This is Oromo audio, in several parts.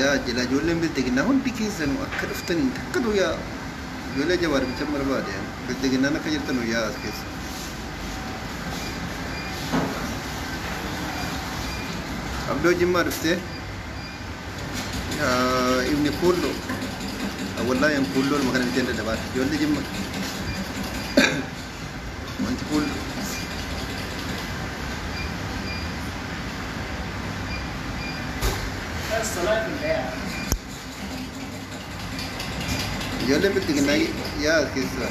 yaa jila ijoolleen bilxiginnaa hundi keessanuu akka dhuftaniin takkatu yaa ijoollee jawaar bicha barbaade bilxiginnaan akka jirtanu yaa as keessa. Abdoo jimmaa dhuftee. Ibni kuulloo wallahi an kuulloo nama kana biteen dadhabaadha ijoollee jimma wanti kuulloo ijoollee bilxiginnaa yaa as keessaa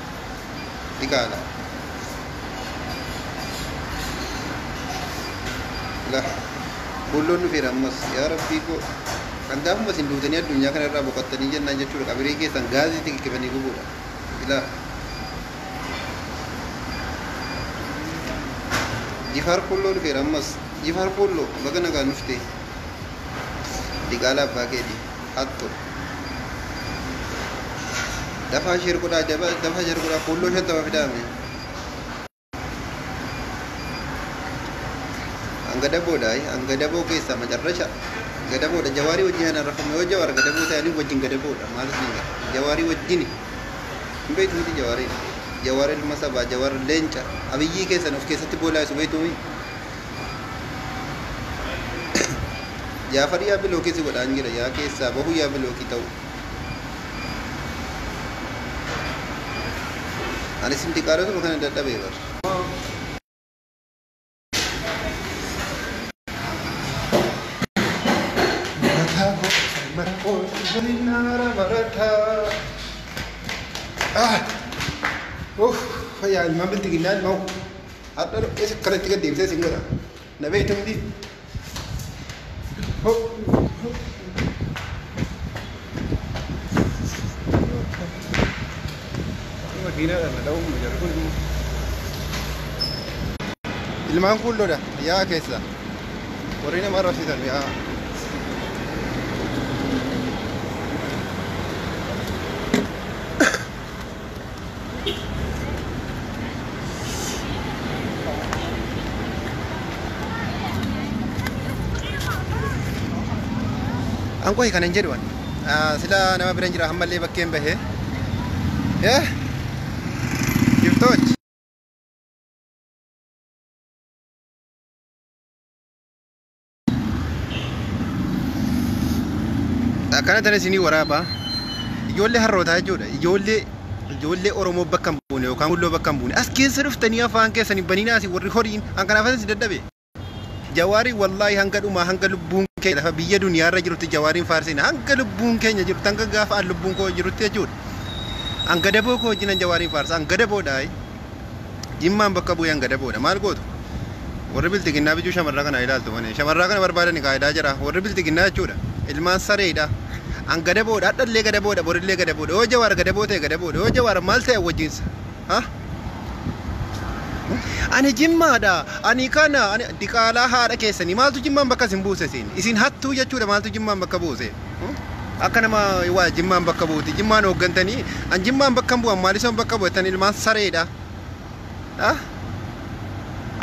diqaala lah kuulloon dhufeera ammas yaa rabbii koo kan gaafuma isin duutanii addunyaa kana irraa boqattanii jennaan jechuudha qabirii keessan gaazii tikikkifanii gubuudha ilaa jifaar kuulloo dhufeera ammas jifaar kuulloo baga nagaan dhuftee diqaala abbaa keetii hattu dafaa sheer godhaa jaba dafaa sheer godhaa kuulloo shantama fidaame hanga daboodha ay hanga daboo keessa macarrasha gadaboodha jawaarii wajjin hana rafame yoo jawaar gadaboo ta'e ani wajjin gadaboodha maal isin jedha jawaarii wajjini hin beektu miti jawaariin jawaar ilma sabaa jawaar leenca abiyyii keessan of keessatti boolaa isu beektu miti Jaafar yaa bilookii si godhaan jira yaa keessaa bahuu yaa bilookii ta'u. Ani sin diqaalotuma kana dadhabee bar. Marataa koo mara koo waliin naara marataa. Ah! Uff! Fayyaa ilmaan biltiginnaa ilmoo. Hadha isa kanatti gad deebisee sin godha. Na beekta miti. Hop. Makiinaadhaan na dha'uuf nu jarri kun immoo. Ilmaan kuulloodha yaa keessa. Warri nama arrabsiisan yaa. An qohi kanan jedhu an Ah, sila nama biran jira hammallee bakkeen bahe Eh, giftochi akkana tan isinii waraabaa ijoollee harrootaa jechuudha ijoollee ijoollee oromoo bakka hin buune yookaan gulloo bakka hin buune as keessa dhuftanii afaan keessan hin baniinaa isin warri horiin an kanaaf isin dadhabe jawaarii wallaahi hanga dhumaa hanga lubbuun keenya lafa biyya duniyaarra jirutti jawaariin faarsiina hanga lubbuun keenya jirutti hanga gaafa an lubbuun koo jirutti jechuudha an gadaboo koo wajjin an jawaariin faarsa an gadaboodhaa Jimmaan bakka bu'ee hanga daboodha. Maal gootu? Warri bilxiginnaa bijuu shamarraa kana ilaaltu malee. Shamarraa kana barbaadani qaayidaa jira. Warri bilxiginnaa jechuudha. Ilmaan sareedha. An gadaboodha. Hadhallee gadaboodha. Borillee gadaboodha. Yoo jawaar gadaboo ta'e gadaboodha. Yoo jawaar maal ta'e wajjinsa. Ha? Ani jimmaadha. Ani kana. Ani diqaalaa haadha keessanii. Maaltu jimmaan bakka isin buuse isin? Isin hattuu jechuudha. Maaltu jimmaan bakka buuse? Akka nama waa jimmaan bakka buuti. Jimmaan hooggantanii an jimmaan bakka hin bu'an maalisoon bakka bu'atan ilmaan sareedha. Ah?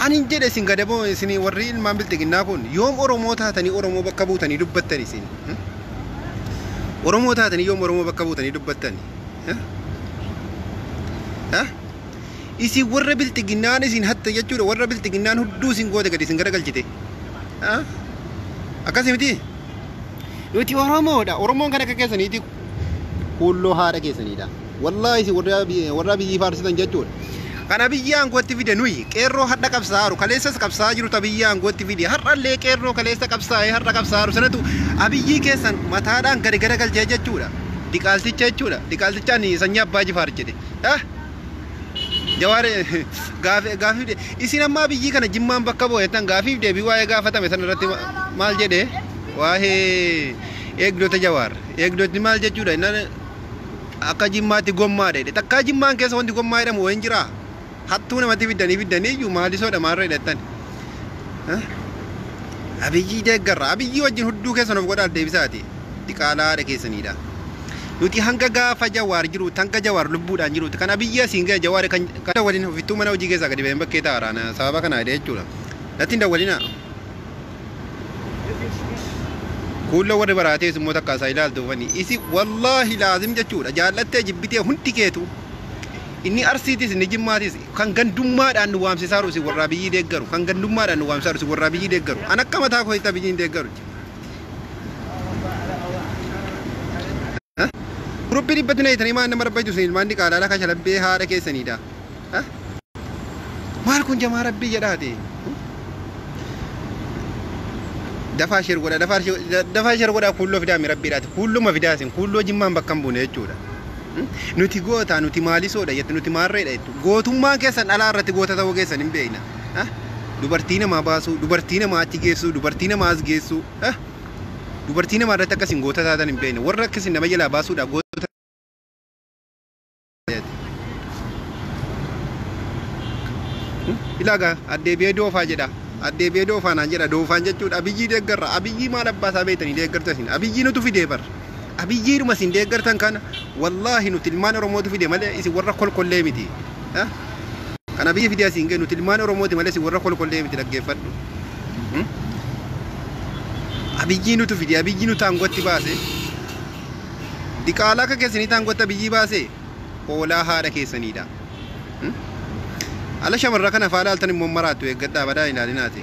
Ani hin jedhe isin gadaboo isin warri ilmaan bilxiginnaa kun yoom Oromoo taatanii Oromoo bakka buutanii dubbattan isin. Hmm? Oromoo taatanii yoom Oromoo bakka buutanii dubbattan. Eh? Eh? Isin warra bilxiginnaan isin hatte jechuudha warra bilxiginnaan hudduu isin goote gadi isin garagalchite. Ah? Akkasii mitii? Nuti Oromoodha. Oromoon kan akka keessaniiti kuulloo haadha keessaniidha. Wallaahi isin warra bi- warra biyyii faarsitan jechuudha. Kana biyya aangootti fide nuyi qeerroo hadha qabsaa'aru kaleessas qabsaa'aa jiru ta biyya aangootti fide har'allee qeerroo kaleessa qabsaa'ee har'a qabsaa'aru sanatu abiyyii keessan mataadhaan gadi garagalchee jechuudha. Diqaalticha jechuudha. Diqaaltichaan sanyii abbaa jifaar jedhe. Ah! Jawaar gaafii gaafii de isin ammaa biyyii kana jimmaan bakka bu'a jettan gaafiif deebii waa'ee gaafatame san irratti ma- maal jedhe waa'ee eegdota jawaar eegdotni maal jechuudha innan akka jimmaatti gommaadha jedhe takkaa jimmaan keessa wanti gommaa jedhamu wayin jira hattuu namatti fiddanii fiddanii iyyuu maalisoodha maarra jedhattan abiyyii deeggarra abiyyii wajjin hudduu keessan of godhaal deebisaati diqaalaa haadha keessaniidha. Nuti hanga gaafa jawaar jiruutti hanga jawaar lubbuudhaan jiruutti kan abiyyi asiin ga'e jawaar kan kan dawwalin ofittuu mana hojii keessaa gadi ba'een bakkee ta'a raana sababa kana hidhee jechuudha. Natti hin dawwalinaa. Kuulloo warri baraatees immoo takka isaa ilaaltu fani isi wallaahi laazim jechuudha jaallattee jibbitee hundi keetu inni arsiitis inni jimmaatis kan gandummaadhaan nu waamsisaa jiru isin warraa biyyii deeggaru kan gandummaadhaan nu waamsisaa jiru isin warraa biyyii deeggaru an akka mataa kootti abiyyiin deeggaru. Guruppi dhibbatti na hitanii maan nama rabbaytu isin ilmaan diqaalaa laka shalabbee haadha keessaniidha. Maal kun jamaa rabbii jedhaate. Dafaa sheer godha dafaa dafaa sheer godha kuulloo fidaa mi rabbiidhaati kuulluma fidaa isin kuulloo jimmaan bakka hin buune jechuudha. Nuti goota nuti maalisoodha jettu nuti maarreedha jettu gootummaan keessan dhalaa irratti goota ta'uu keessan hin beekna. ah, dubartii namaa baasuu, dubartii namaa achi geessuu, dubartii namaa as geessuu, ah, dubartii namaa irratti akkasiin goota taatan hin beekne. Warra akkasiin nama jalaa baasuudhaaf goota ilaagaa addeebi'ee doofaa jedha. Addeebi'ee doofaa naan jedha. Doofaan jechuudha abiyyii deeggarra. Abiyyii maal abbaa isaa beektanii deeggartu isin. Abiyyii nutu fidee barra. Abiyyiidhuma isin deeggartan kana wallaahi nuti ilmaan Oromootu fide malee isin warra kolkollee miti. Eh? Kan Abiyyi fide asiin ga'e nuti ilmaan Oromooti malee isin warra kolkollee miti dhaggeeffadhu. Hmm? Abiyyii nutu fide abiyyii nutu aangootti baase. Diqaalaa akka keessaniitti aangootti abiyyii baase hoolaa haadha keessaniidha. Hmm? Ala shamarra kana faalaaltan immoo maraattu eeggadhaa badaa ilaalinaati.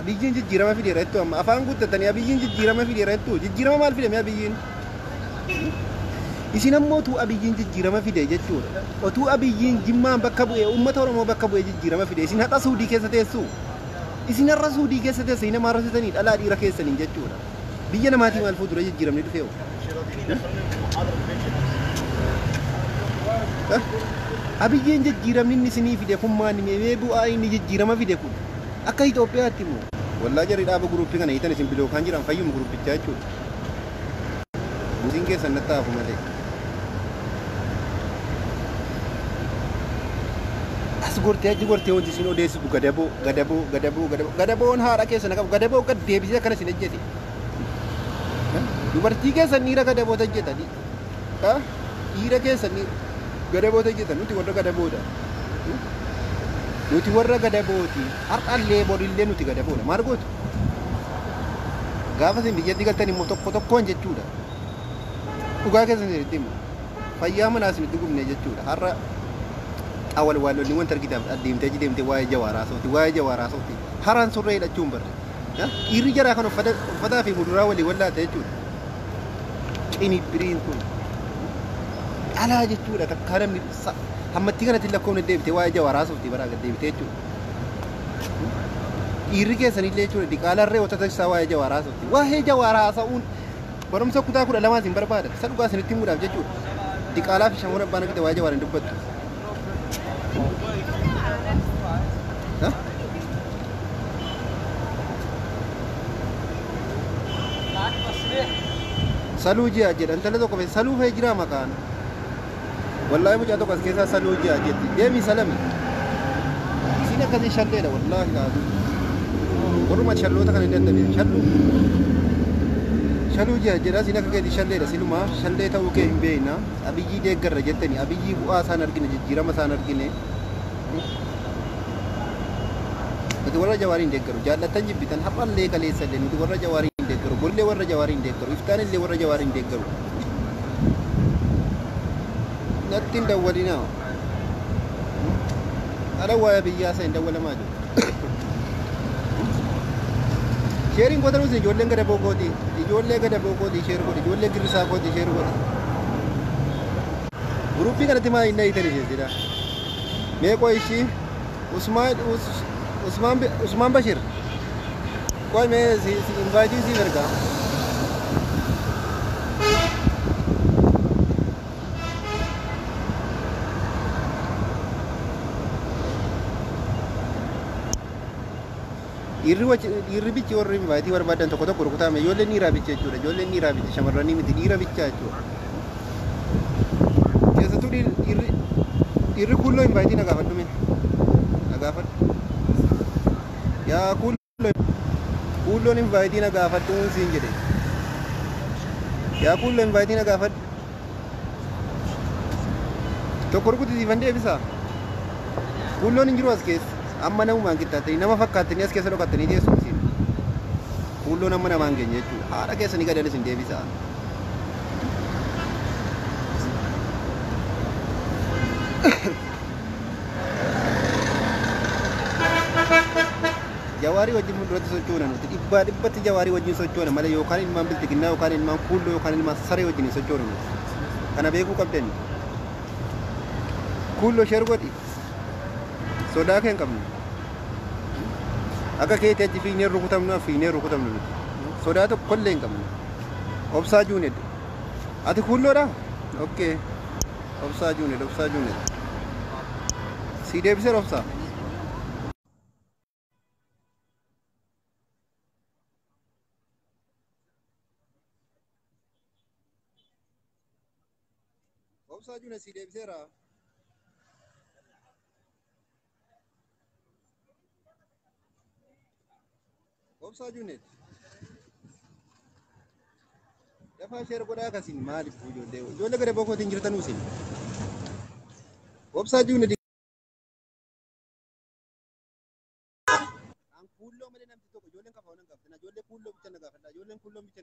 Abiyyiin jijjiirama fideera jettu amma afaan guuttatanii abiyyiin jijjiirama fideera jettu jijjiirama maal fidame abiyyiin? Isin ammoo utuu abiyyiin jijjiirama fide jechuudha. Otuu abiyyiin jimmaan bakka bu'e uummata Oromoo bakka bu'e jijjiirama fide isin har'a suudii keessa teessu. Isin har'a suudii keessa teessanii nama arrasitanii dhalaa dhiira keessaniin jechuudha. Biyya namaatii maal fuuldura jijjiiramnee dhufee hoo? Abiyyiin jijjiiramni inni isinii fide kun maani mee bu'aa inni jijjiirama fide kun akka Itoophiyaatti immoo wallaa jarri dhaaba guruuppii kana hiitan isin bilookaan jiran fayyuma guruppichaa jechuudha. Buusiin keessan natti haafu malee. as gortee achi gortee wanti isin odeessitu gadaboo gadaboo gadaboo gadaboo gadaboon haadha keessa na qabu gadaboo gad deebisee akkana isin ejjete dubartii keessan dhiira gadaboota ejjeta dhiira keessan gadaboota ejjeta nuti warra gadaboodha nuti warra gadabooti har'allee borillee nuti gadaboodha maal gootu gaafa isin biyyatti galtan immoo tokko tokkoon jechuudha. dhugaa keessa isinitti himu fayyaa manaa isinitti gubnee jechuudha har'a xawal waalonni wanta argitaaf adeemtee achi deemtee waa'ee jawaaraa sooti waa'ee jawaaraa sooti haraan surree hidhachuun barre Ya, dhiirri jaraa kan uffata uffataa fi muduraa walii wallaata jechuudha qinibbiriin kun dhalaa jechuudha takkaa namni sa- hammattii kanatti hin lakkoofne deebitee waa'ee jawaaraa sooftii baraa gad deebitee jechuudha dhiirri keessanillee jechuudha diqaalarree wata taksisaa waa'ee jawaaraa sooftii waa'ee jawaaraa haasa'uun Barumsa kutaa kudha lamaa isin barbaada. Isa dhugaa isinitti himuudhaaf jechuudha. Diqaalaa fi shamoon abbaan akkita waa'ee jawaarin dubbattu. Hah? Saluu ji'a jedha intala tokko fe saluu fee jiraa maqaan. Wallaahi mucaa tokko as keessaa saluu ji'a jetti. Deemi salami. Isiin akkasii shalleedha wallaahi laatu. Warruma shalloota kana hin dadhabee. Shalluu. Shaluu ji'a jedha isiin akka keetii shalleedha silumaa shallee ta'uu kee hin beekna. Abiyyii deeggarra jettani abiyyii bu'aa isaan argine jijjiirama isaan argine. Nuti warra jawaariin deeggaru jaallattan jibbitan har'allee kaleessallee nuti warra jawaariin deeggaru bollee warra jawaariin deeggaru iftaanis illee warra jawaariin deeggaru. Natti hin dawwalinaa. Ala waa'ee biyyaa isaa hin dawwalamaa jiru. Sheeriin goota nuti ijoolleen gada bookooti. Ijoollee gada bookooti sheer godhi. Ijoollee girrisaa kooti sheer godhi. Guruppii kanatti maa hin dhahitan ishee jedha. Meeqoo ishii Usmaan Usmaan Usmaan Bashir. Qoy mee si si invite siif ergaa. Dhiirri wachi dhiirri bichi warri invite barbaadan tokko tokko rukutaa mee ijoolleen dhiiraa bicha jechuudha ijoolleen dhiiraa bicha shamarranii miti dhiira bicha jechuudha. Keessattuu dhiirri dhiirri dhiirri kuulloo invite na gaafadhu mee na gaafadhu. Yaa kuulloo. Kuulloon invaayitii na gaafadhuun siin jedhe. Yaa kuulloo invaayitii na gaafadhu. Tokko rukuti siifan deebisaa. Kuulloon hin jiru as keessa. Amma namumaan qixxaattanii nama fakkaattanii as keessa dhokattanii teessu isin. Kuulloon amma namaan keenya jechuudha. Haadha keessanii gadan isin deebisaa. Jawaarii wajjin fuulduratti sochoona nuti. Dhibbaa dhibbatti jawaarii wajjin sochoona malee yookaan ilmaan bilxiginnaa yookaan ilmaan kuulloo yookaan ilmaan saree wajjin hin sochoonu nuti. Kana beekuu qabdan. Kuulloo sheer godhi. Sodaa kee hin qabnu. Akka keetii achi fiignee rukutamnu as fiignee rukutamnu nuti. Sodaa tokkollee hin qabnu. Obsaa Juuned. Ati kuulloodhaa? Okkee. Obsaa Juned, Obsaa Juned. Sii deebiseera Obsaa? Obsaa Juned sii deebiseera? Obsaa Junet. Dafaa sheer godhaa akkasiin maaliif ijoollee ijoollee gara boqootiin jirtanuu isin. Obsaa Junet. Kuulloo malee namni tokko ijoolleen kafa waan hin qabne ijoollee kuulloo bicha na gaafadha ijoolleen kuulloo bicha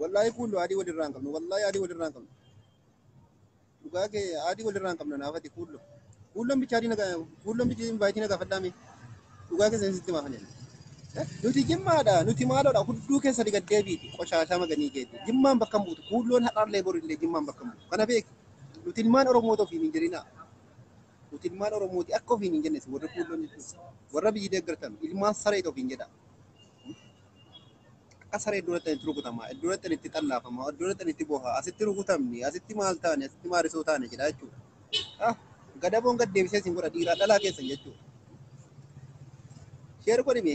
Wallaahi kuullu adii walirraa hin qabnu. Wallaahi adii walirraa hin qabnu. Dhugaa kee adii walirraa hin qabnu naafati kuullu. Kuulloon bichaa adii nagaa kuulloon bichaa invaayitii nagaa fadhaa mee. Dhugaa kee seensi itti maafane. Nuti jimmaadha nuti maaloodha hudduu keessa diga deebiiti qoshaashaa maganii keeti. Jimmaan bakka hin buutu kuulloon har'aallee borillee jimmaan bakka hin buutu. Kana beeki. Nuti ilmaan Oromoo ta'uuf hin jirinaa. Nuti ilmaan Oromooti akka ofiin hin jennes warri kuulloon jechuudha. Warra biyyi deeggartan ilmaan sareeti ofiin jedha. Akka saree iddoo dhaqxan itti rukutama, iddoo dhaqxan itti xallaafama, iddoo dhaqxan itti boha, asitti rukutamni, asitti maal taane, asitti maarisoo taane jedha jechuudha. Ah, Gadaboon gad deebisee isin godha dhiiraa dhalaa keessan jechuudha. Sheer godhime.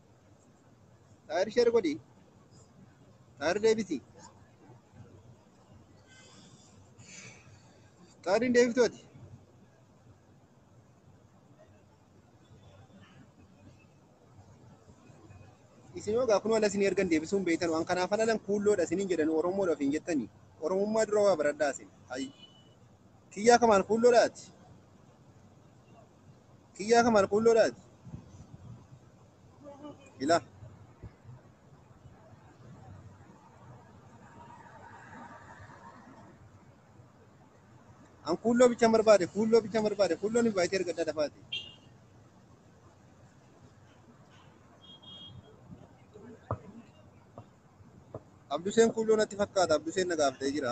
Xaayir sheer godhi. Xaayir deebisi. Xaayir hin deebiftu ati. Isin hoo gaafuma ala isin ergan deebisuun beektan waan kanaaf alalan kuulloodha isiniin jedhan Oromoodha ofiin jettani. Oromummaa dura waa baradhaa isin. Hayyi. Kiyyaa kamaan kuulloodha ati. Kiyyaa kan malquulloodhaati. Ila. An kuulloo bichaan barbaade, kuulloo bichaan barbaade, kuulloo ni baay'ee erga adda dafaati. Abduseen kuulloo natti fakkaata, Abduseen na gaafatee jira.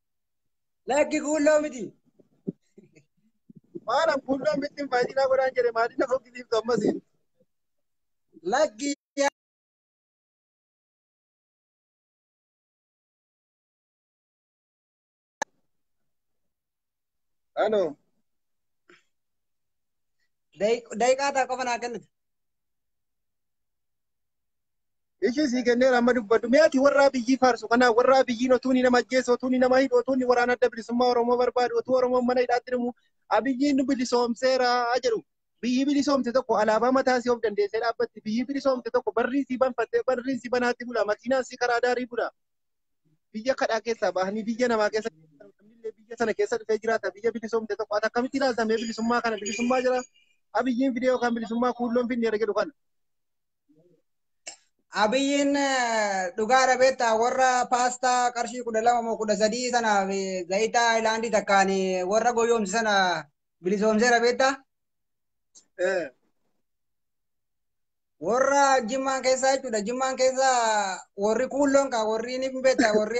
Lakki kuulloo miti. Maala kuulloo miti faayidinaa godhaan jedhe maaliin na fokkisiiftu ammas. Lakki Halo. daqiiqaa ta'a qofa naa kennitu. Ishii sii kenneera amma dubbadhu. Mee ati warra abiyyii faarsu kanaa warra abiyyiin otuu ni nama ajjeesu, otuu ni nama hidhu, otuu ni waraana adda bilisummaa Oromoo barbaadu, otuu Oromoon mana hidhaatti dhumu abiyyiin nu bilisoomseera jedhu. Biyyi bilisoomte tokko alaabaa mataa isii of dandeessee dhaabbatti. Biyyi bilisoomte tokko barri isii banfattee barri isii banaatti bula. Makiinaan isii karaa daarii bula. Biyya kadhaa keessaa bahanii biyya namaa keessa namnillee biyya sana keessa dhufee jiraata. Biyya bilisoomte tokko ati akkamitti ilaalta mee bilisummaa kana bilisummaa jira abiyyiin fidee yookaan bilisummaa kuulloon finneera jedhu kana. Abiyyiin dhugaa dhabeetta warra paastaa qarshii kudha lama moo kudha sadii sanaaf zayitaa Haayilaandii takkaan warra goyoomse sana bilisoomsee dhabeetta. Warra jimmaan keessaa jechuudha. Jimmaan keessaa warri kuulloon kaa warri ni beekta warri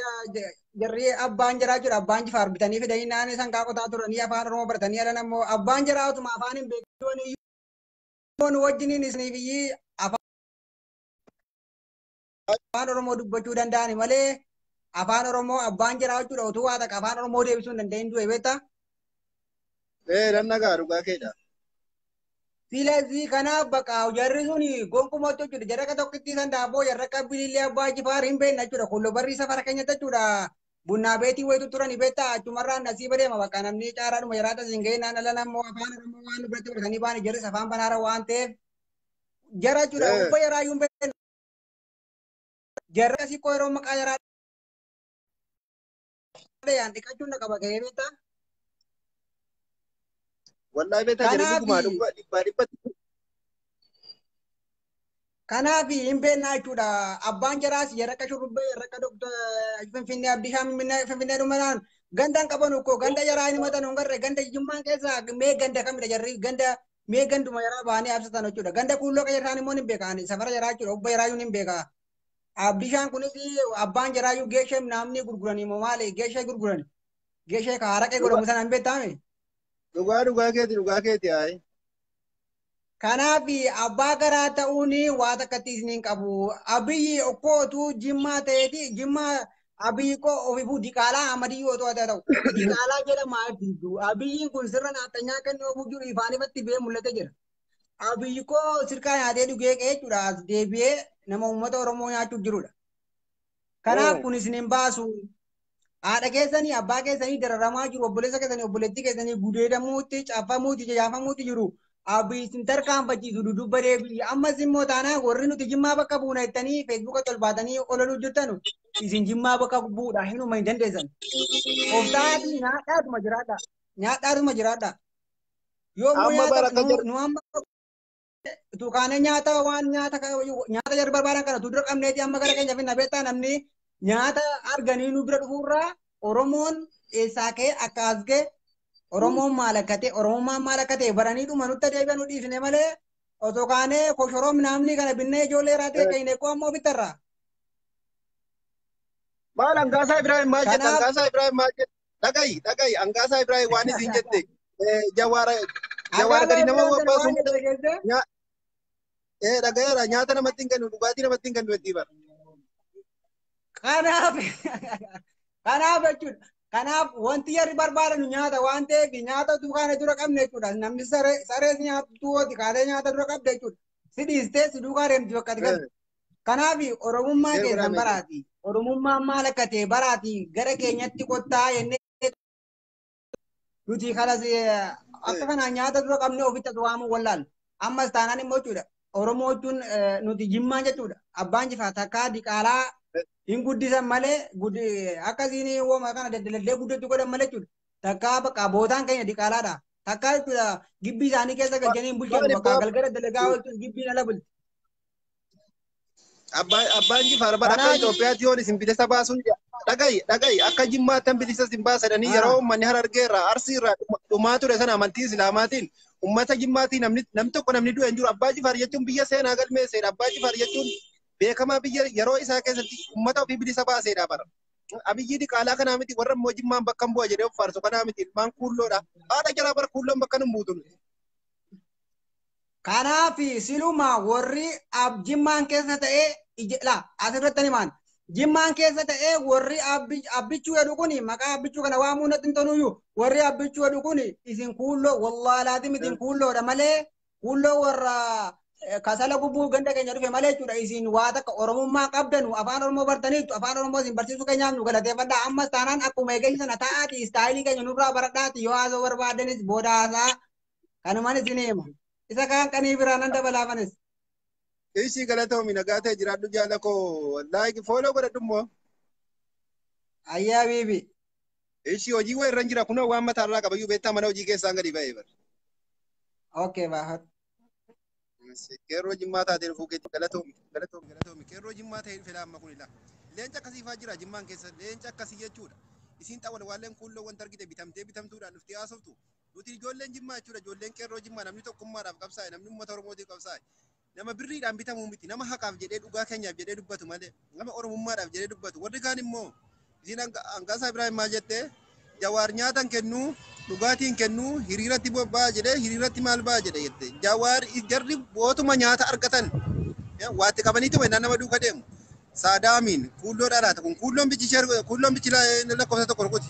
jarri abbaan jiraa jechuudha. Abbaan jifaar bitanii fidanii naannoo isaan kaa qotaa turanii afaan Oromoo baratanii alan ammoo abbaan jiraa utuma afaan hin beekin Oromoo nu wajjiniin isanii biyyi afaan Oromoo dubbachuu danda'ani malee afaan Oromoo abbaan jiraa jechuudha utuu waa takka afaan Oromoo deebisuu hin danda'in du'e beektaa? Ee nan nagaa dhugaa keedha. Silazii kanaaf bakka jarri sun gonkumatti jechuudha jarraqa tokkittii san daaboo jarraqa bilillee abbaa jifaar hin beekna jechuudha kun lobarrii safara keenyatti jechuudha Bunnaa beetii wayitu turani beektaa achumarraan asii badeema bakka namni caaraadhuma jiraata siin ga'ee naan ala nammoo afaan oromoo waan biratti baratanii baani jarris afaan banaara waan ta'eef jara jechuudha Eh. ubba jaraa yuun beekna jarra asii koo yeroo maqaa jaraa dhayaan dhiqachuun na qaba ga'ee beektaa Wallahi beektaa jedhe Kanaafi- dhugumaa dhugumaa dhibbaa dhibbatti. Kanaaf hin beeknaa jechuudha. Abbaan jaraas yarraqa shurrubbee yarraqa dogda finfinnee abdii shaam finfinnee dhumanaan ganda hin qabanu koo ganda yaraa hin himatan hin garre ganda jimmaan keessa mee ganda kamidha jarri ganda mee ganduma yaraa bahanii absatan jechuudha. Ganda kuulloo keessa isaan immoo hin beekaan safara yaraa jechuudha obba yaraa hin beekaa. Abdii shaan kunis abbaan jaraa iyyuu geeshee naamni gurguranii moo maali geeshee gurgurani. Geeshee ka haraqee godhamu sana hin beektaame. Dhugaa dhugaa keeti dhugaa keeti ayi. Kanaaf abbaa garaa ta'uun waa takkatti isin hin qabu. Abiyyi okkoo otuu jimmaa ta'eeti jimmaa abiyyi koo ofifuu diqaalaa amadiyyi otuu haa ta'u. Diqaalaa jedhamaa ibsitu. Abiyyiin kun sirna naaxxanyaa kennuu ofuu jiru ifaan ifatti bee mul'ate jira. Abiyyi koo sirkaa nyaatee dhugee qe'ee jechuudha as deebi'ee nama uummata Oromoo nyaachuuf jirudha. Kanaaf kun isin hin baasu. Haadha keessanii abbaa keessanii dararamaa jiru obboleessa keessanii obboleettii keessanii gudeedamuutti caffamuutti jajaafamuutti jiru. Abbi isin tarkaanfachiisu dudubba deebi'i. Ammas immoo taanaan warri nuti jimmaa bakka buuna jettanii feesbuuka tolbaatanii olaluu jirtanu isin jimmaa bakka bu'uudha hinuma hin dandeessan. Obsaatii nyaadhaatuma jiraadha. Nyaadhaatuma jiraadha. Yoo immoo Amma bara nyaata akka nu- jedhu- nu amma utuu kaanee nyaata waan nyaata ka- nyaata jedhu barbaadan kana utuu dura qabneeti amma gara keenya finna beektaa namni nyaata arganii nu bira dhufuurraa Oromoon eessaa ka'e akka as ga'e Oromoon maal akka ta'e Oromummaan maal akka ta'e baranii dhuma nutti adeebi'an nu dhiisne malee osoo kaanee koshoroo minaamnii kana binnee ijoollee irraa ta'e keenya eeggoo ammoo bittarraa. Maal hangaasaa Ibrahim maal jedha Kanaaf- hangaasaa Ibrahim maal jedha. dhagayi dhagayi angaasaa ibraahim waan isin jette eh, jawaara jawaara gadi nama wabbaasu nya- eh, dhagayeera nyaata namatti hin kennu dhugaatii namatti hin kennu jettii bara Kanaaf kanaaf jechuudha. Kanaaf wanti jarri barbaadanu nyaata waan ta'eef nyaata utuu kana dura qabne jechuudha. Namni saree sarees nyaatu tuwooti kaatee nyaata dura qabde jechuudha. Si dhiistee si duukaa deemti bakka ati galte. Kanaaf Oromummaa Yeroo keessan baraame. baraati. Oromummaan maal akka ta'e baraati gara keenyatti kottaa jennee nuti kanas eh, akka kanaan nyaata dura qabnee ofitti as waamuu wallaal. Ammas taanaan immoo jechuudha. Oromoo jechuun eh, nuti jimmaa jechuudha. Abbaan jifaa takkaa diqaalaa hin guddisan malee guddi- akkasiin uumama kana daddalallee guddachuu godhan malee jechuudha. Takkaa bakka bootaan keenya diqaalaadha. Takkaa jechuudha gibbii isaanii keessa galchanii hin bulchan Maali bakka boo- galgala dalagaa oolchuun gibbiin ala bulti. Abbaan abbaan jifaar bara akka Kanaa- Itoophiyaatti yoon isin bilisa baasuun dhagayi dhagayi akka jimmaattan bilisa isin baasadanii Ah. yeroo uummanni harargee irraa arsii irraa dhuma- dhumaa ture sana amantii islaamaatiin uummata jimmaatii namni namni tokko namni du'e hin jiru abbaa jifaar jechuun biyya seenaa galmeesseedha abbaa jifaar jechuun beekamaa biyya yeroo isaa keessatti uummata ofii bilisa baaseedha bara. Abiyyii diqaalaa kanaa miti warra immoo jimmaan bakka hin bu'a jedhee of faarsu kanaa miti ilmaan kuulloodha. Haadha jalaa bara kuulloon bakka hin buutu. Kanaafi silumaa warri ab jimmaan keessa ta'ee ije- la asirratti ani maan jimmaan keessa ta'ee warri abbi- abbichuu jedhu kuni maqaa abbichuu kana waamuu natti hin toluyyuu warri abbichuu jedhu kuni isin kuulloo wallaahi laaziim isin kuulloodha malee kuulloo warra eh, kasala gubbuu ganda keenya dhufe malee jechuudha isin waa takka oromummaa qabdanu afaan oromoo bartaniittu afaan oromoo isin barsiisuu keenyaaf nu galateeffadha ammas taanaan akkuma eegeessi sana ta'aati istaayilii keenya nurraa baradhaati yoo haasoo barbaaddanis booda haasaa kanuman isin hima isa kaan qanii biraa nan dabalaa manes Ishii galatoomi nagaa ta'e jiraadhu jaala koo laayik fooloo godhadhu immoo. ayyaa biibi Ishii hojii wayii irra jira kunoo waan mataa irraa qabayyuu beektaa mana hojii keessaan gadi ba'ee bara. okay baafadhu Qeerroo jimmaa taatee dhufuu keetti galatoomi galatoomi galatoomi qeerroo jimmaa ta'ee dhufe laamma kun ilaa leenca akkasii faa jira jimmaan keessa leenca akkasii jechuudha isiin xawwal waalleen kuulloo wanta argite bitamtee bitamtuudhaan dhuftee haasoftu nuti ijoolleen jimmaa jechuudha ijoolleen qeerroo jimmaa namni tokkummaadhaaf qabsaa'e namni uummata oromootiif qabsaa'e nama birriidhaan bitamuu miti nama haqaaf jedhee dhugaa keenyaaf jedhee dubbatu malee Nama Oromummaadhaaf jedhee dubbatu. Warri kaan immoo isiin Angaasaa Ibraahim maal jette? Jawaar nyaata hin kennu, dhugaatii hin kennu, hiriiratti bobba'a jedhee hiriiratti maal ba'a jedhe jette. Jawaar jarri bootuma nyaata argatan waatti qabaniitu mannaa nama duuka deemu. Saadaamiin kuulloo dhaalaata kun kuulloon bichi ishee kuulloon bichi lakkoofsa tokko rukuti.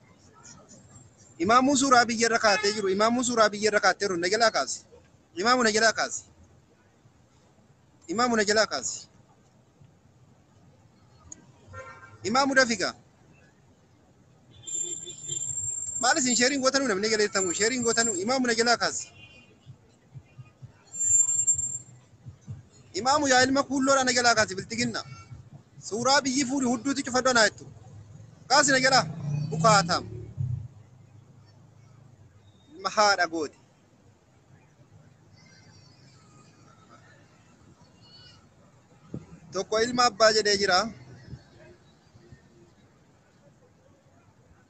Imaamuu suuraa biyya irra kaatee jiru. Imaamuu suuraa biyya irra kaatee jiru. Na jalaa kaasi. Imaamu na jalaa kaasi. Imaamu na jalaa kaasi. Imaamu dafiga. Maal isin sheeriin gootanuu namni galeettamu sheeriin gootanuu imaamu na jalaa kaasi. Imaamu yaa ilma kuulloo dhana jalaa kaasi bilxiginna. Suuraa biyyi fuudhi hudduuti cufadhu anaa jettu. Kaasi na jalaa bukaatam. Ilma haadha gooti. Tokko ilma abbaa jedhee jira.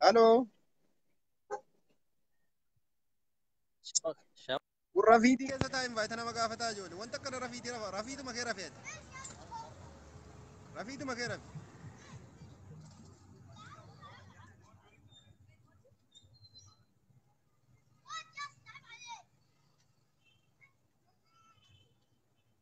Halo. Kun rafiitii keessa taa'e invaayitii nama gaafataa ijoole. Wanta akkana rafiitii rafa. Rafiituma kee rafee ati. Rafiituma kee rafi.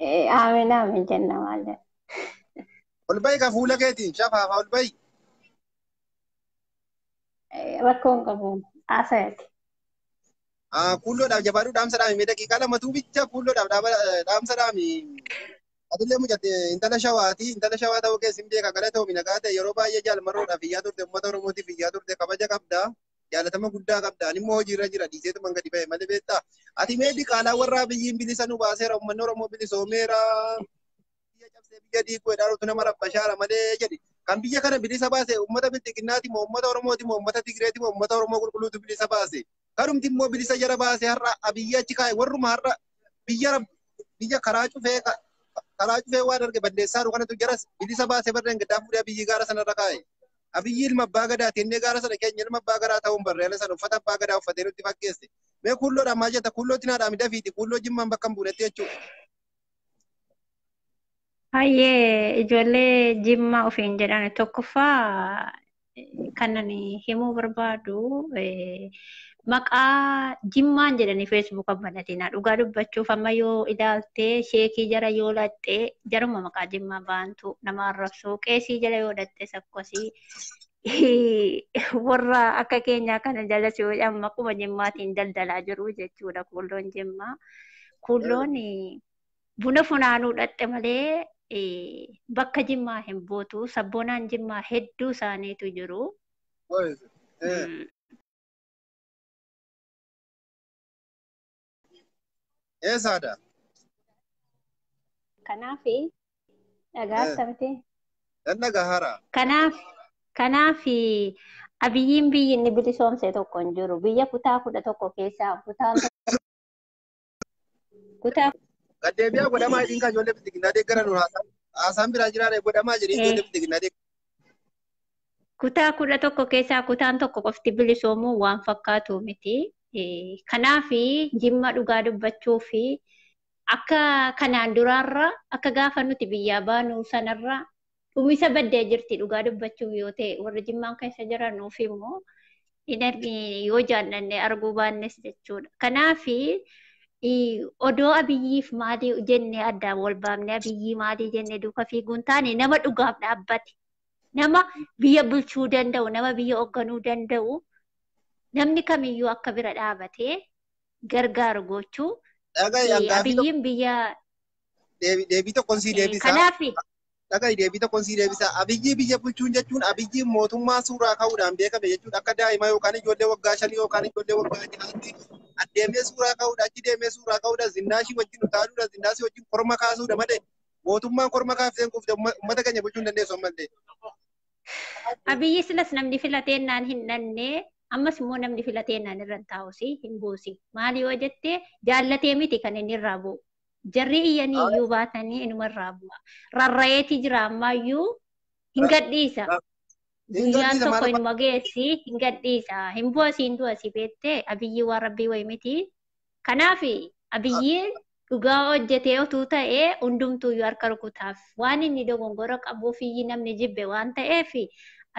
Eh, Aamin aamin jenna maal jenna. Ol bahi ka fuula keetiin shafaafa ol bahi. Eh, Rakkoo hin qabu. Haasayati. Ah, Kuulloodhaaf jabaadhu dhaamsa dhaami mee daqiiqaa lamatuu bicha kuulloodhaaf dhaaba- eh, dhaamsa dhaami. Atillee mucatte intala shawaati intala shawaa ta'uu keessi hin beeka galatoomi nagaa ta'e yeroo baay'ee jaalmarroodhaaf iyyaa turte uummata oromootiif iyyaa turte kabaja qabda. jaalatama guddaa qabda ani immoo hojiirra jira dhiiseetu man gadi ba'e malee beektaa ati mee diqaalaa warra abiyyiin bilisa nu baaseera uummanni oromoo bilisoomeera biyya cabsee biyya diiguu edhaan utuu nama rabbashaara malee jedhi kan biyya kana bilisa baase uummata bilxiginnaati moo uummata oromooti moo uummata tigireeti moo uummata oromoo qulqulluutu bilisa baase kanumti immoo bilisa jara baase har'a abiyyi achi kaa'e warruma har'a biyya rab- biyya karaa cufee ka- karaa cufee waan arge balleessaa jiru kanatu jaras bilisa baase barreen gaddaa fuudhee abiyyi gaara sanarra kaa'e. Abiyyi ilma abbaa gadaa kennee gaara sana keenya ilma abbaa garaa ta'uun barree ala sana uffata abbaa gadaa uffatee nutti fakkeesse. Mee kuulloodhaan maal jetta kuullootti naa dhaami dafiiti kuulloo jimmaan bakka hin buunetti jechuudha. Hayyee ijoollee jimmaa ofiin jedhan tokkoffaa kanan himuu barbaadu maqaa jimmaan jedhanii feesbuuka banatina dhugaa dubbachuuf amma yoo ilaaltee sheekii jara yoo laxxee jaruma maqaa jimmaa baantu nama arrabsuu qeesii jala yoo dhaxxee sakkosii warra akka keenyaa kana jala si jedhan maquma jimmaatiin daldalaa jiru jechuudha kuulloon jimmaa kuulloon buna funaanuu dhaxxe malee bakka jimmaa hin buutu sabboonaan jimmaa hedduu isaaniitu jiru. Eessaadha? Kanaaf dhagaa Eh. akkamiti? Nan dhagahara. Kanaaf kanaaf abiyyiin biyyi inni bilisoomse tokko hin jiru. Biyya kutaa kudha tokko keessaa kutaan Kutaa Gaddeebiyaa godhamaa jedhiin kan ijoollee bilxiginnaa deeggaran nu haasaan. Haasaan biraa jiraare godhamaa jedhiin Eh. ijoollee bilxiginnaa deeggaran. kutaa kudha tokko keessaa kutaan tokko qofti bilisoomuu waan fakkaatu miti. Eh, Kanaafi jimma dhugaa dubbachuu fi akka kanaan duraarra akka gaafa nuti biyyaa baanu sanarra dhumisa baddee jirti dhugaa dubbachuuf yoo ta'e warri jimmaan keessa jiran nuuf immoo hin argi yoo jaallanne arguu baannes jechuudha. Kanaaf odoo abiyyiif maalii jennee addaan wal baafne abiyyii maalii jennee duuka fiiguun taane nama dhugaaf dhaabbate nama biyya bulchuu danda'u nama biyya hoogganuu danda'u namni kamiyyuu akka bira dhaabatee gargaaru gochuu Dhaga'i, eh, hangaafi abiyyiin biyya deebii tokkoon sii eh, deebisa. kanaaf Dhaga'i deebii tokkoon sii deebisaa. Abiyyii biyya bulchuun jechuun abiyyiin mootummaa suuraa ka'uudhaan beekame jechuudha. Akka daa'ima yookaan ijoollee waggaa shanii yookaan ijoollee waggaa ja'aatti addeemee suuraa ka'uudha achi deemee suuraa ka'uudha zinnaashii wajjin utaaluudha zinnaashii wajjin korma kaasuudha malee mootummaan korma kaafteen kuufte uummata keenya bulchuu hin dandeessu ammallee. Abiyyi silas namni filateennaan hin dhannee ammas immoo namni filateennaan irra hin taa'usi hin buusi. Maali yoo jette jaallatee miti kan inni irraa bu'u. Jarrii iyyanii Haa. iyyuu baatanii inuma irraa bu'a. Rarra'eeti jira ammaayyuu hin Ra- gadhiisa. ra- hin Guyyaan gadhiisa tokko maal inuma geessi hin gadhiisa. Hin bu'a siin du'a si beettee abiyyii waan rabbii wayi miti. Kanaaf abiyyiin dhugaa hojjetee otuu ta'ee hundumtuuyyuu harka rukutaaf. waan inni dogongora qabuufiyyi namni jibbe waan ta'eef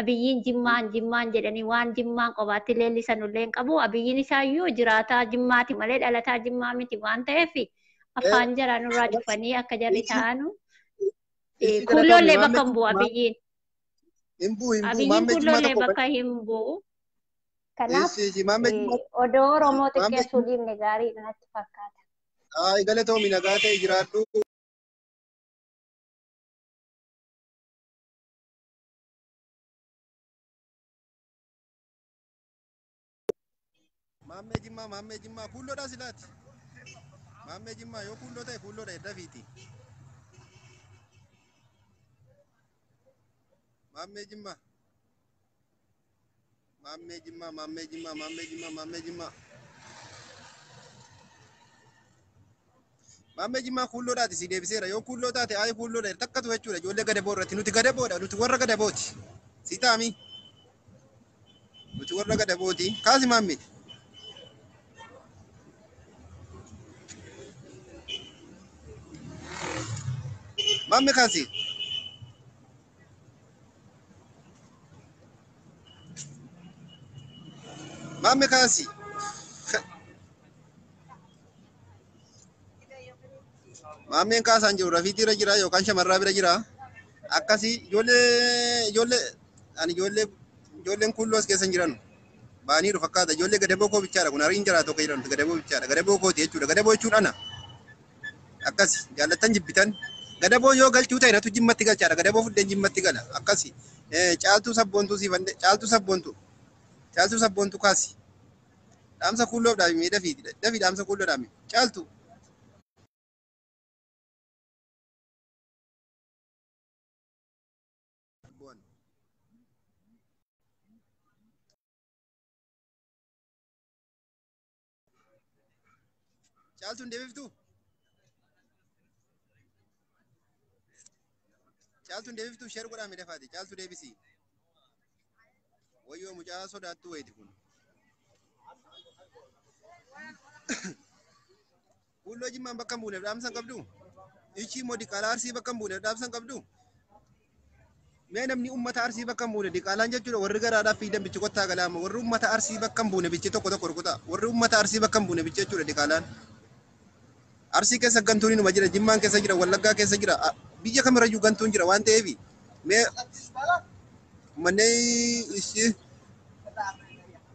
abiyyiin jimmaan jimmaan jedhanii waan jimmaan qobaatti leellisan illee hin qabu abiyyiin isaayyuu jiraataa jimmaati malee dhalataa jimmaa miti waan ta'eef afaan jaraa nurraa cufanii akka jarri ta'anu kuulloollee bakka hin bu'u abiyyiin abiyyiin kuulloollee bakka hin bu'u kanaaf odoo oromoo xiqqeessuu dhiifne gaarii natti fakkaata. Galatoomi nagaa ta'e jiraadhu. Maammee Jimmaa Maammee Jimmaa kuulloodhaa silaati. Maammee Jimmaa yoo kuulloo ta'e kuulloodha edda fiiti. Maammee Jimmaa. Maammee Jimmaa, Maammee Jimmaa, Maammee Jimmaa, Maammee Jimmaa. Maammee Jimmaa kuulloodhaati si deebiseera. Yoo kuulloo taate ayi kuulloodha takkatu jechuudha. Ijoollee gadaboo irratti nuti gadaboodha. Nuti warra gadabooti. Si taami. Nuti warra gadabooti. Kaasi maammee. Maammee kaasi. Mamme kaasi. Maammeen kaasaan jiru rafiitii irra jira yookaan shamarraa bira jira. Akkasii ijoollee ijoollee ani ijoollee ijoolleen kuulloo as keessa hin jiran. Baaniiru fakkaata ijoollee gadaboo koo bichaadha kun hariin jiraatu akka jedhamtu gadaboo bichaadha gadaboo kooti jechuudha gadaboo jechuun ana. akkasi jaallattan jibbitan gadaboo yoo galchuu ta'e natu jimmatti galchaadha gadaboo fuddeen jimmatti gala akkasi caaltuu sabboontuu siif hande caaltuu sabboontuu caaltuu sabboontuu kaasi dhaamsa kuulloof dhaami mee dafii dafii dhaamsa kuulloo dhaami caaltuu Caaltu hin deebiftu? Caaltu hin deebiftu? Sheer godhaa mee dafaati. Caaltu deebisi. Wayyoo mucaa sodaattuu wayiiti kun. Kuulloo jimmaan bakka hin buuneef dhaamsan qabdu? Ichii immoo diqaalaa arsii bakka hin buuneef dhaamsan qabdu? Mee namni uummata arsii bakka hin buune diqaalaan jechuudha warri garaadhaaf fiidan bichi kottaa galaama warri uummata arsii bakka hin buune bichi tokko tokko rukutaa warri uummata arsii bakka hin buune bichi jechuudha diqaalaan. Arsii keessa gantuun inuma jira jimmaan keessa jira wallaggaa keessa jira a- biyya kamirrayyuu gantuun jira waan ta'eef mee uummanni ishii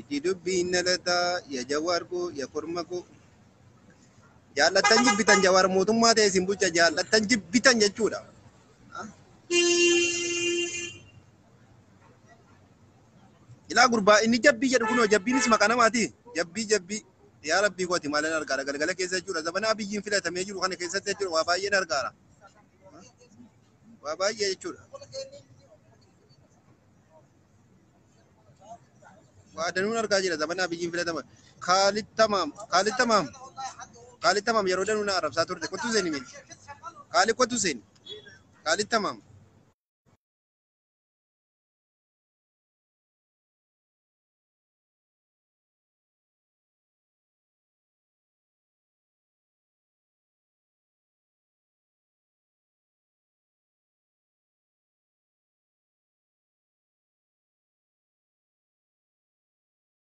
Iji dubbii hin dhalataa ya jawaar koo ya korma koo. Jaallattan jibbitan jawaar mootummaa ta'e isin bulcha jaallattan jibbitan jechuudha. Ilaa gurbaa inni jabbii jedhu kunoo jabbiinis maqaa namaati. Jabbii jabbii. Yaa rabbii kooti maalan argaara galgala keessa jechuudha. Zabana abiyyiin filatamee jiru kana keessatti jechuudha waa baay'een argaara. Waa baay'ee jechuudha. Waa danuun argaa jira zamana Abiyyiin filatama. Kaalid Tamaam. Kaalid Tamaam. Kaalid Tamaam yeroo danuu na arrabsaa turte. Kottu seeni mee. Kaalid kottu seeni. Kaalid Tamaam.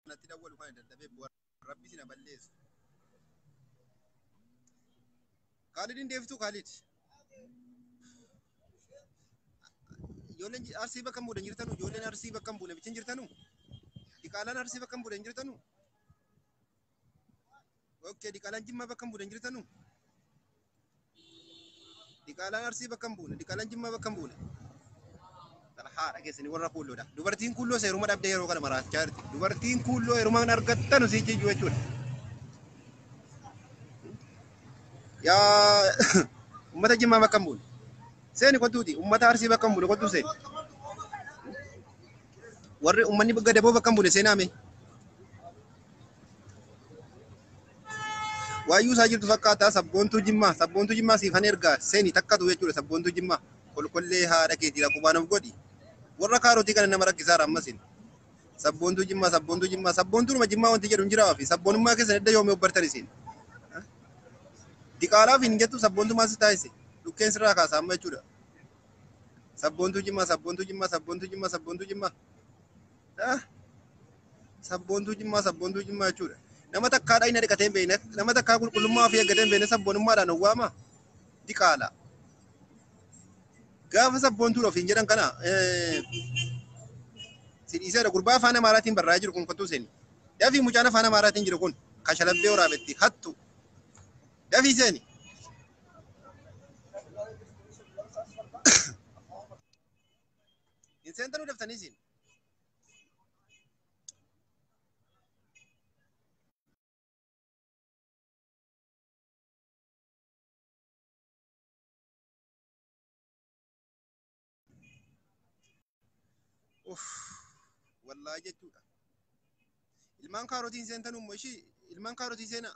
natti dawwalu kana dadhabee bu'aa rabbi sina balleessu. Kaalidin deebituu Kaalid. Ijoolleen ji- arsii bakka hin buune hin jirtanu ijoolleen arsii bakka hin buune bichin jirtanu. Diqaalaan arsii bakka hin buune hin jirtanu. Okkee diqaalaan jimmaa bakka hin buune hin jirtanu? Diqaalaan arsii bakka hin buune diqaalaan jimmaa bakka hin buune. Haa dhageessanii warra kuulloodha. Dubartiin kuulloo seeruma dhabdee yeroo kana maraachaa jirti. Dubartiin kuulloo yeruma hin argattanu si jijjuu jechuudha. Yaa uummata jimmaa bakka hin buune. Seeni kottuuti uummata arsii bakka hin buune kottuu seeni. Warri uummanni gadaboo bakka hin buune seenaa mee. Waayyuu isaa jirtu fakkaata sabboontuu jimmaa sabboontuu jimmaa siifan ergaa seeni takkatu jechuudha sabboontuu jimmaa kolkollee haadha keetii lakubaan of godhi warra kaarotii kana nama rakkisaara ammasin sabboontuu jimmaa sabboontuu jimmaa sabboontuunuma jimmaa wanti jedhu hin jiraa ofi sabboonummaa keessan edda yoomii obbartan isin diqaalaaf hin jettu sabboontumaa si taasise dhukkeen sirraa kaasa amma jechuudha sabboontuu jimmaa sabboontuu jimmaa sabboontuu jimmaa sabboontuu jimmaa Sabboontuu jimmaa sabboontuu jimmaa jechuudha. Nama takkaa dhayina dhiqatee hin beekne nama takkaa qulqullummaa ofii eeggatee hin beekne sabboonummaadhaan owwaama diqaala. Gaafa sabboontuudha ofiin jedhan kana sidhiiseera gurbaa afaan amaaraatiin barraa'ee jiru kun kottuu seeni. Dafii mucaan afaan amaaraatiin jiru kun kashalabbee waraabetti hattu. Dafii seeni. Hin seentanu daftanii siin. Uff, wallaahi jechuudha. Ilmaan kaarotiin seentan umma ishii ilmaan kaarotii seenaa.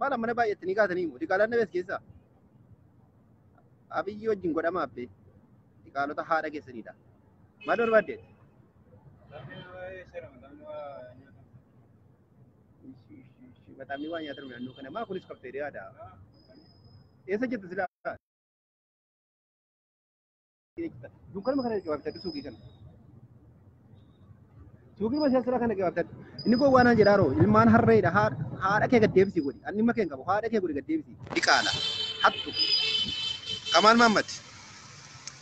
Maal ammana baay'attanii kaatanii immoo diqaalaan dhabees keessaa abiyyi wajjin godhama abbee diqaalota haadha keessaniidha. Maal barbaaddeet? Maxaafni waa nyaatan naannoo kana maa kunis kafteeriyaadha. Eessa jirtu silaa? jechuudha. Dunkaanuma kana gabaabsattu suuqii kana. Suuqii masa sura kana gabaabsattu. Inni kun waan jedhaa roo ilmaan harreedha haadha kee gaddeebisi godhi. Anni makee hin qabu haadha kee godhi gaddeebisi. Diqaala. Hattu. Kamaal Maammad.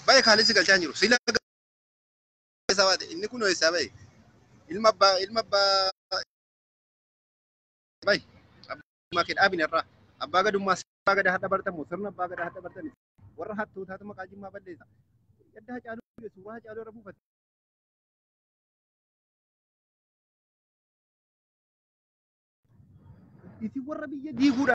Baay'ee kaalisi galchaa jiru. Sila isaa baate inni kun eessaa bahe. Ilma abbaa ilma abbaa. Baay'ee. Abbaa kee dhaabin irraa. Abbaa gadummaa abbaa gadaa hadha bartamu sirna abbaa gadaa hadha bartani. Warra hattootaatu maqaa jimmaa balleessa. Yadda hacaaluu du'e suuraa hacaaluu irra buufate. Isin warra biyya diiguudha.